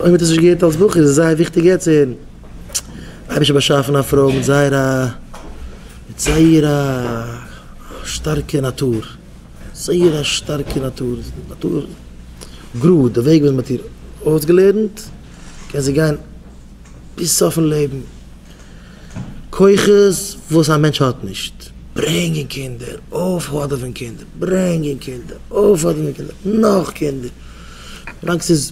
אויב האט ער עס נישט געהערט אלס בחור איז עס זייער וויכטיג יעצט צו הערן. אייבערשטער באשאפן א פרוי מיט זייער א מיט זייער א שטארקע נאטור, זייער א שטארקע נאטור, נאטור גראד, די וועג וואס מען האט איר אויסגעלערנט קען זי גיין ביז סופן לעבן, כוחות וואס א מענטש האט נישט, ברענגען קינדער, אויפהאדעווען קינדער, ברענגען קינדער, אויפהאדעווען קינדער, נאך קינדער, ווילאנג ס'איז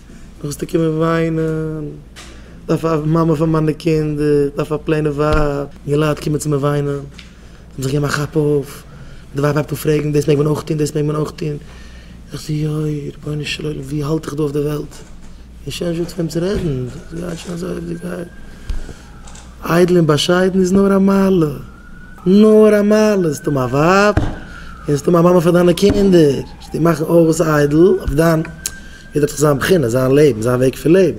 וועסטו קומען וויינען, דארף א מאמע פאר מיינע קינדער, דארף א פלעינע ווייב, און די לייט קומען צו מיר וויינען, זיי האבן זיך געגעבן א כאפ אויף, און די ווייב הייבט אן פרעגן, דאס מעג מען אויך טון, דאס מעג מען אויך טון, איך זאג יוי, רבונו של עולם, ווי האלט איך דא אויף די וועלט? און שוין זשע צו אים צו רעדן, עס גייט שוין אזוי ווי עס גייט, איידל און באשיידן איז נאר א מעלה, נאר א מעלה, זאלסט האבן א ווייב, און זאלסט האבן א מאמע פאר דיינע קינדער, וועסטו מאכן אויס איידל, אויף דיין יעדער האט דאך זיין בחינה, זיין לעבן, זיין וועג פון לעבן.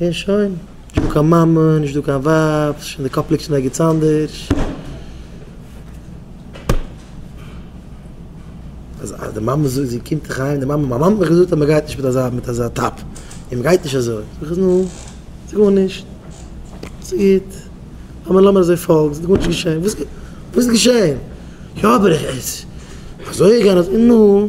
און שוין. נישט דא קיין מאמע, נישט דא קיין ווייב, ס'איז שוין די קאפ ליגט שוין ערגעץ אנדערש. אז אז די מאמע זאגט זי קומט דיך אהיים, די מאמע, מיין מאמע האט מיך געזאגט אז מען גייט נישט מיט אזא מיט אזא טאפ, און מען גייט נישט אזוי. זאג איך נו, ס'איז גארנישט. ס'גוט. לאמיר לאמיר אזוי פאלגן, ס'איז גארנישט געשען. וואס איז געשען? יא אבער איך, אזוי גייען אזוי, נו.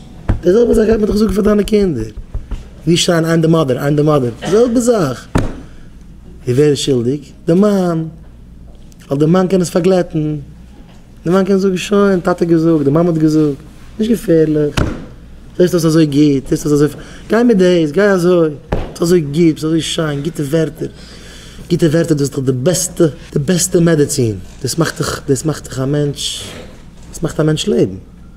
די זעלבע זאך גייט מען דיך זאגן פאר דיינע קינדער, ווי שרייען איין די מאדער, איין די מאדער, די זעלבע זאך. און ווער איז שולדיג? די מאן, ווייל די מאן קען עס פארגלעטן, די מאן קען זאגן שוין, טאטע האט געזאגט, די מאמע האט געזאגט, נישט געפערליך, זעסט אויס אזוי גוט, זעסט אויס אזוי, גיי מיט דאס, גיי אזוי, ביסט אזוי גוט, ביסט אזוי שיין, גוטע ווערטער, גוטע ווערטער דאס איז דאך די בעסטע, די בעסטע מעדעצין, דאס מאכט דיך, דאס מאכט דיך א מענטש, דאס מאכט א מענטש לעבן.